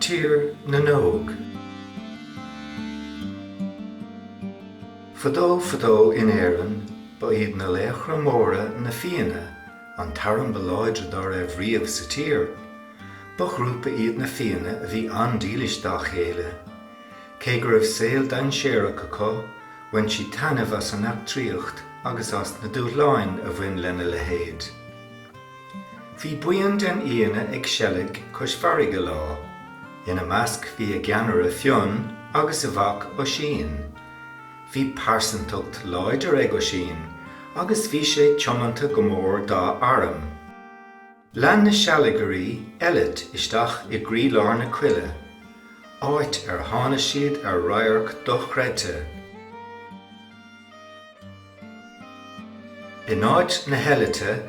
Tír na nÓg. Fadó fadó in Éirinn, ba iad na laochra móra, na Fianna, an t-arm ba láidre dá raibh riamh sa tír. Ba ghrúpa iad na Fianna a bhí an-dílis dá chéile. Cé go raibh saol dainséarach acu, bhain siad taitneamh as an eachtraíocht agus as na dúshláin a bhain lena leithéid. Bhí buíon den Fhianna ag seilg cois farraige lá. Ina measc bhí a gceannaire Fionn agus a mhac Oisín. Bhí pearsantacht láidir ag Oisín agus bhí sé tiomanta go mór dá arm. Lean na sealgairí eilit isteach i gcroílár na coille, áit ar tháinig siad ar radharc dochreidte. In áit na heilite,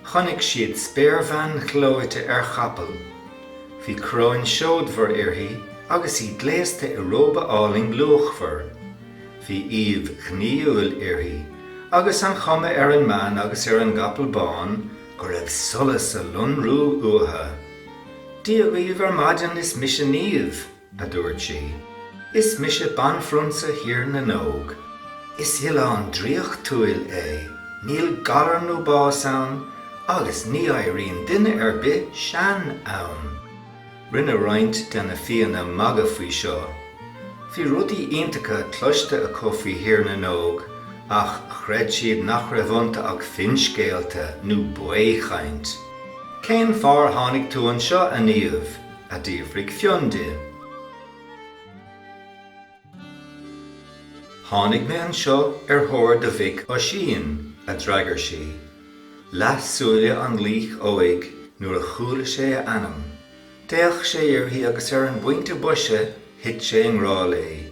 chonaic siad spéirbhean ghleoite ar chapall. Bhí coróin seodmhar uirthi agus í gléasta i róba álainn luachmhar. Bhí aoibh ghnaíúil uirthi, agus an chuma ar an mbean agus ar an gcapall bán go raibh solas ag lonrú uatha. Dia dhaoibh ar maidin, is mise Niamh! a dúirt sí, is mise Banphrionsa Thír na nÓg. Is oileán draíochtúil é, níl galar nó bás ann agus ní éiríonn duine ar bith sean ann. Rinne roinnt de na Fianna magadh faoi seo. Bhí rudaí iontacha cloiste acu faoi Thír na nÓg ach chreid siad nach raibh iontu ach finscéalta nó baothchaint. Cén fáth ar tháinig tú anseo, a Niamh? a d'fhiafraigh Fionn di. Tháinig mé anseo ar thóir do mhic Oisín, a d'fhreagair sí. Leath súile an laoich óig nuair a chuala sé a ainm. D'fhéach sé uirthi agus ar an bpointe boise thit sé i ngrá léi.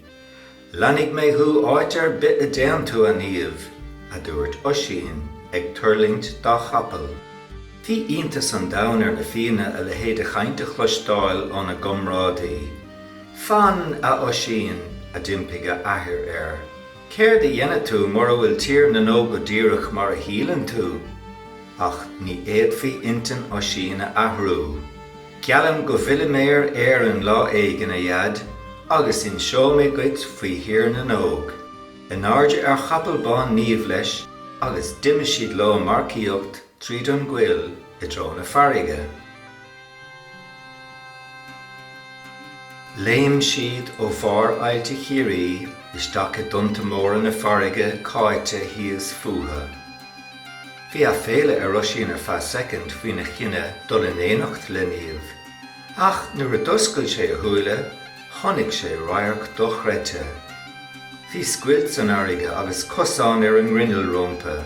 Leanfaidh mé thú áit ar bith a dtéann tú, a Niamh, a dúirt Oisín, ag tuirlingt dá chapall. Bhí iontas an domhain ar na Fianna a leithéid de chaint a chloisteáil óna gcomrádaí. Fan, a Oisín! a d'impigh a athair air. Céard a dhéanfaidh tú mura bhfuil Tír na nÓg go díreach mar a shíleann tú? Ach ní fhéadfaí intinn Oisín a athrú. Geallaim go bhfillfidh mé ar Éirinn lá éigin, a Dhaid, agus inseoidh mé duit faoi Thír na nÓg. In airde ar chapall bán Niamh leis agus d'imigh siad leo ag marcaíocht tríd an gcoill i dtreo na farraige. Léim siad ó bharr Aillte Chiarraí isteach i dtonnta móra na farraige cáite thíos fúthu. Bhí aiféala ar Oisín ar feadh soicind faoina chinneadh dul in éineacht le Niamh. Ach nuair a d'oscail sé a shúile, chonaic sé radharc dochreidte. Bhí scoilt san fharraige agus cosán ar an ngrinneall rompu.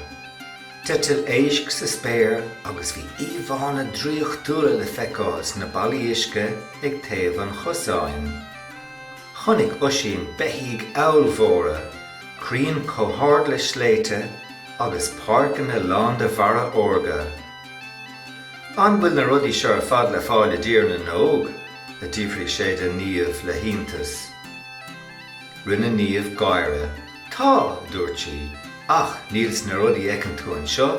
D'eitil éisc sa spéir agus bhí íomhánna draíochtúla le feiceáil sna ballaí uisce ag taobh an chosáin. Chonaic Oisín beithígh ollmhóra, crainn chomh hard le sléibhte agus páirceanna lán de bharra órga. An bhfuil na rudaí seo ar fad le fáil i dTír na nÓg? a d'fhiafraigh sé de Niamh le hiontas. Rinne Niamh gáire. Tá, a dúirt sí, ach níl sna rudaí a fheiceann tú anseo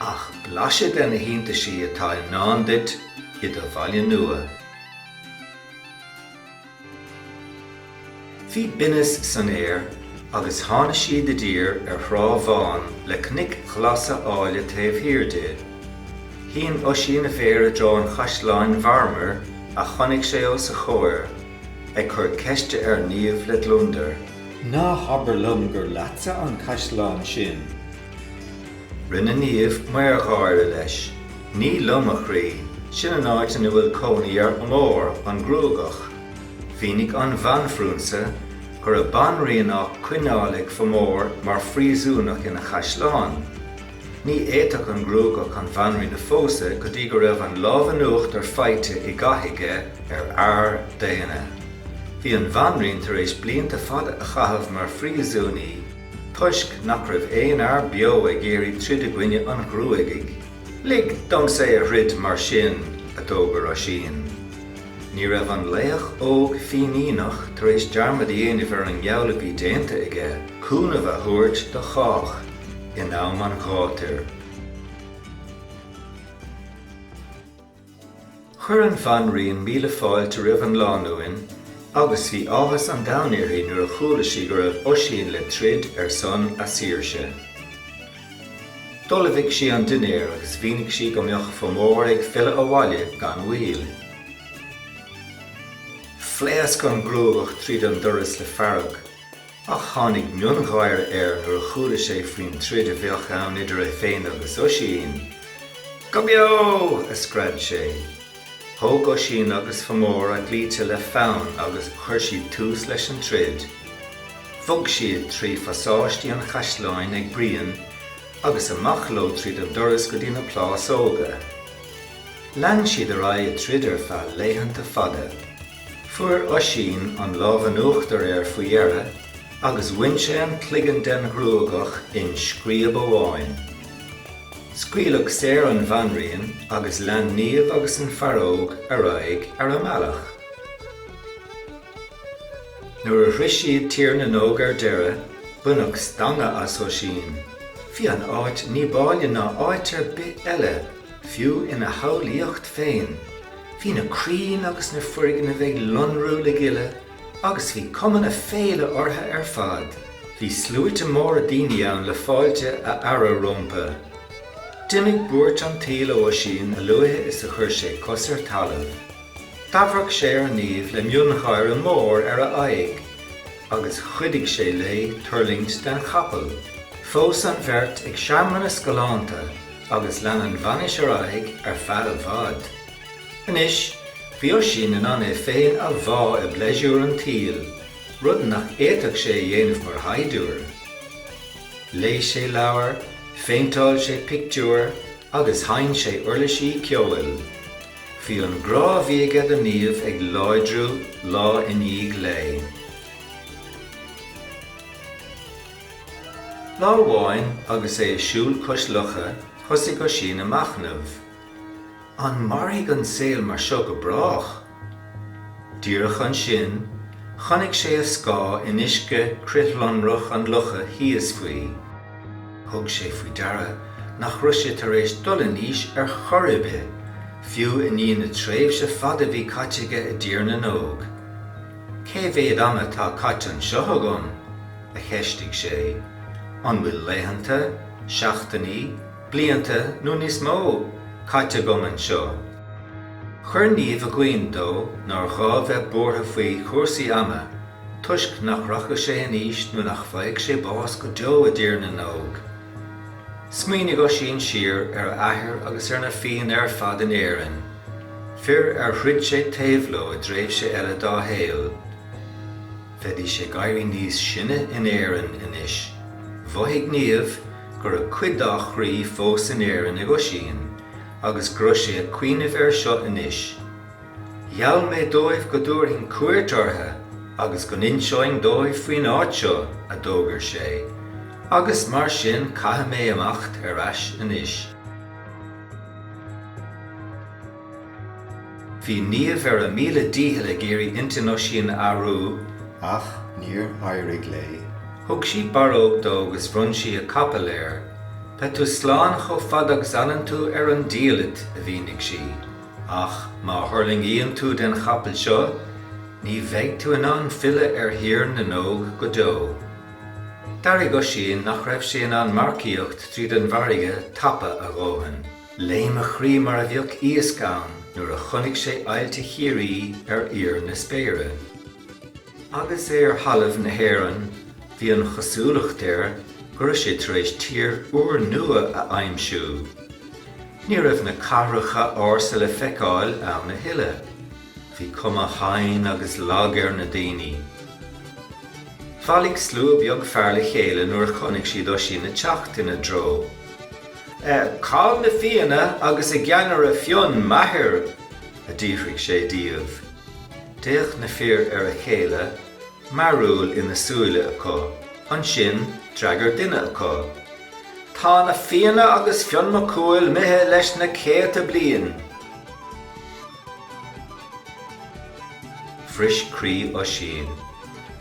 ach blaiseadh de na hiontaisí atá i ndán duit i do bhaile nua. Bhí binneas san aer agus tháinig siad i dtír ar thrá bhán le cnoic ghlasa áille taobh thiar di. Shín Oisín a mhéar i dtreo an chaisleáin mharmair a chonaic sé os a chomhair, ag cur ceiste ar Niamh le gliondar. Ná habair liom gur leatsa an caisleán sin? Rinne Niamh meangadh gáire leis. Ní liom a chroí, sin an áit ina bhfuil cónaí ar Fhomór an Gruagach. Mhínigh an Bhanphrionsa go raibh banríon á coinneáil ag Fomór mar phríosúnach ina chaisleán. Ní fhéadfadh an Gruagach an bhanríon a phósadh go dtí go raibh an lámh in uachtar faighte i gcath aige ar fhear daonna. Bhí an bhanríon tar éis blianta fada a chaitheamh mar phríosúnaí. Toisc nach raibh aon fhear beo ag iarraidh troid i gcoinne an ghruagaigh. Lig domsa é a throid mar sin, a d'fhógair Oisín. Ní raibh an laoch óg Fíníneach tar éis dearmad a dhéanamh ar an ngeall a bhí déanta aige cúnamh a thabhairt do chách in am an ghátair. Chuir an bhanríon míle fáilte roimh an lánúin agus bhí áthas an domhain uirthi nuair a chuala sí go raibh Oisín le troid ar son a saoirse. D'ullmhaigh sí an dinnéar agus mhínigh sí go mbeadh Fomór ag filleadh abhaile gan mhoill. Phléasc an gruagach tríd an doras le fearg. Ach tháinig miongháire air nuair a chuala sé faoin troid a bheadh ann idir é féin agus Oisín. Go beo! a scread sé. Thóg Oisín agus Fomór a gclaimhte le fonn agus chuir siad tús leis an troid. Bhog siad trí phasáistí an chaisleáin ag bruíon agus amach leo tríd an doras go dtí na plásóga. Lean siad ar aghaidh ag troid ar feadh laethanta fada. Fuair Oisín an lámh in uachtar air faoi dheireadh agus bhain sé an cloigeann den ghruagach in scríob amháin. Scaoileadh saor an bhanríon agus lean Niamh agus an fear óg ar aghaidh ar a mbealach. Nuair a shroich siad Tír na nÓg ar deireadh, baineadh stangadh as Oisín. Bhí an áit ní b'áille ná áit ar bith eile. Fiú ina shamhlaíocht féin. Bhí na crainn agus na foirgnimh ag lonrú le gile agus bhí cuma na féile orthu ar fad. Bhí sluaite móra daoine ann le fáilte a fhearadh rómpu. D'imigh buairt an tsaoil ó Oisín a luaithe is a chuir sé cos ar talamh. D'amharc sé ar Niamh le miongháire mór ar a aghaidh agus chuidigh sé léi tuirlingt den chapall. Phós an bheirt ag searmanas galánta. agus lean an bhainis ar aghaidh ar feadh i bhfad. Anois, bhí Oisín in ann é féin a bhá i bpleisiúr an tsaoil, rud nach fhéadfadh sé a dhéanamh mar shaighdiúir. Léigh sé leabhair, phéinteáil sé pictiúir agus sheinn sé uirlisí ceoil. Bhí an grá a bhí aige do Niamh ag láidriú lá i ndiaidh lae. Lá amháin agus é ag siúl cois locha thosaigh Oisín ag machnamh. An mairfidh an saol mar seo go brách? Díreach ansin, chonaic sé a scáth in uisce crithlonrach an locha thíos faoi. Thug sé faoi deara nach raibh sé tar éis dul in aois ar chor ar bith, fiú i ndiaidh na tréimhse fada a bhí caite aige i dTír na nÓg. Cé mhéad ama atá caite anseo agam? a cheistigh sé. An bhfuil laethanta, seachtainí, blianta, nó níos mó, caite agam anseo? Chuir Niamh i gcuimhne dó nár ghá bheith buartha faoi chúrsaí ama toisc nach rachadh sé in aois nó nach bhfaigheadh sé bás go deo i dTír na nÓg. Smaoinigh Oisín siar ar a athair agus ar na Fianna ar fad in Éirinn, fir ar throid sé taobh leo i dtréimhse eile dá shaol. Bheidís ag éirí níos sine in Éirinn anois. Mhothaigh Niamh go raibh cuid dá chroí fós in Éirinn ag Oisín agus go raibh sé ag cuimhneamh air seo anois. Gheall mé dóibh go dtabharfainn cuairt orthu agus go n-inseoinn dóibh faoin áit seo, a d'fhógair sé, agus mar sin caithfidh mé imeacht ar ais anois. Bhí Niamh ar a míle dícheall ag iarraidh intinn Oisín a athrú, ach níor éirigh léi. Thug sí barróg dó agus bhronn sí a capall air. Beidh tú slán chomh fada agus a fhanann tú ar an diallait, a mhínigh sí. Ach má thuirlingíonn tú den chapall seo, ní bheidh tú in ann filleadh ar Thír na nÓg go deo. D'airigh Oisín nach raibh sé in ann marcaíocht tríd an bhfarraige tapa a dhóthain. Léim a chroí mar a bheadh iasc ann nuair a chonaic sé aillte Chiarraí ar fhíor na spéire. Agus é ar thalamh na hÉireann, bhí an chosúlacht air go raibh sé tar éis tír úrnua a aimsiú. Ní raibh na cathracha ársa le feiceáil ann a thuilleadh. Bhí cuma thanaí agus lag ar na daoine. Bhailigh slua beag fear le chéile nuair a chonaic siad Oisín ag teacht ina dtreo. Cá bhfuil na Fianna agus a gceannaire Fionn, m'athair, a d'fhiafraigh sé díobh. D'fhéach na fir ar a chéile, mearúil ina súile acu. Ansin d'fhreagair duine acu, Tá na Fianna agus Fionn Mac Cumhaill imithe leis na céadta bliain. Bhris croí Oisín.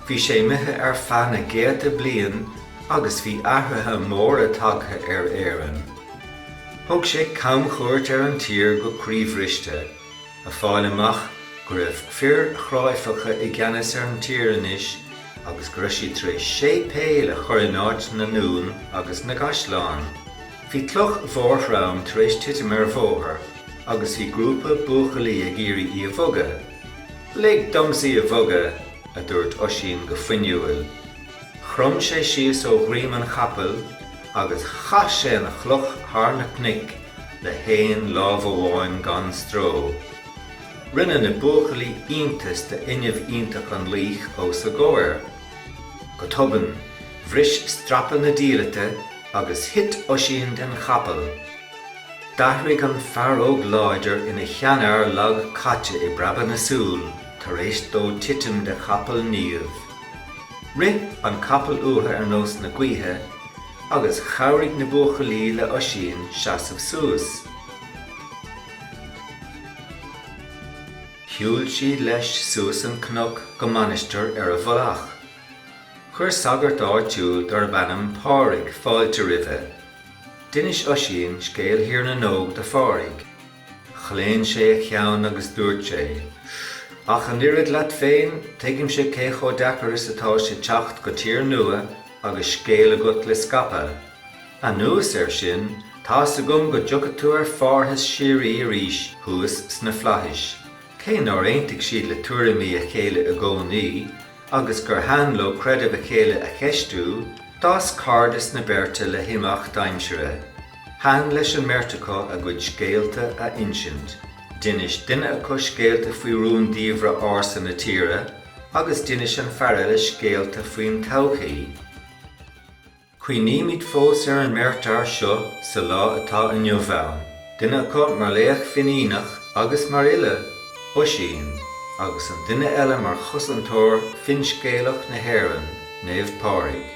Bhí sé imithe ar feadh na gcéadta bliain agus bhí athruithe móra tagtha ar Éirinn. Thug sé camchuairt ar an tír go croíbhriste, ag fáil amach go raibh fir chráifeacha i gceannas ar an tír anois agus go raibh siad tar éis séipéil a chur in áit na ndún agus na gcaisleán. Bhí cloch mhór throm tar éis titim ar bhóthar agus bhí grúpa buachaillí ag iarraidh í a bhogadh. Lig domsa í a bhogadh! a dúirt Oisín go fuinniúil. Chrom sé síos ó dhroím an chapaill agus chaith sé an chloch thar na cnoic le haon lámh amháin gan stró. Rinne na buachaillí iontas d'fhuinneamh iontach an laoich os a gcomhair. Go tobann, bhris strapa na diallaite agus thit Oisín den chapall. D'athraigh an fear óg láidir ina sheanfhear lag caite i bpreabadh na súl tar éis dó titim de chapall Niamh. Rith an capall uatha ar nós na gaoithe agus chabhraigh na buachaillí le Oisín seasamh suas. Shiúil siad leis suas an cnoc go mainistir ar a mhullach. Chuir sagart áitiúil darb ainm Pádraig fáilte roimhe. D'inis Oisín scéal Thír na nÓg do Phádraig. Chlaon sé a cheann agus dúirt sé, Ach an oiread leat féin, tuigimse cé chomh deacair is atá sé teacht go tír nua agus scéal agat le scaipeadh. Anuas air sin, tá's agam go dtiocfaidh tú ar phárthas síoraí arís thuas sna flaithis. Cé nár aontaigh siad le tuairimí a chéile i gcónaí, agus gurbh an leo creideamh a chéile a cheistiú, d'fhás cairdeas na beirte le himeacht aimsire. Ba an leis an mbeirt acu a gcuid scéalta a insint. D'inis duine acu scéalta faoi rúndiamhra ársa na tíre agus d'inis an fear eile scéalta faoin todhchaí. Cuimhnímid fós ar an mbeirt fhear seo sa lá atá inniu ann, duine acu mar laoch Fíníneach agus mar fhile, Oisín, agus an duine eile mar chosantóir finscéalach na hÉireann, Naomh Pádraig.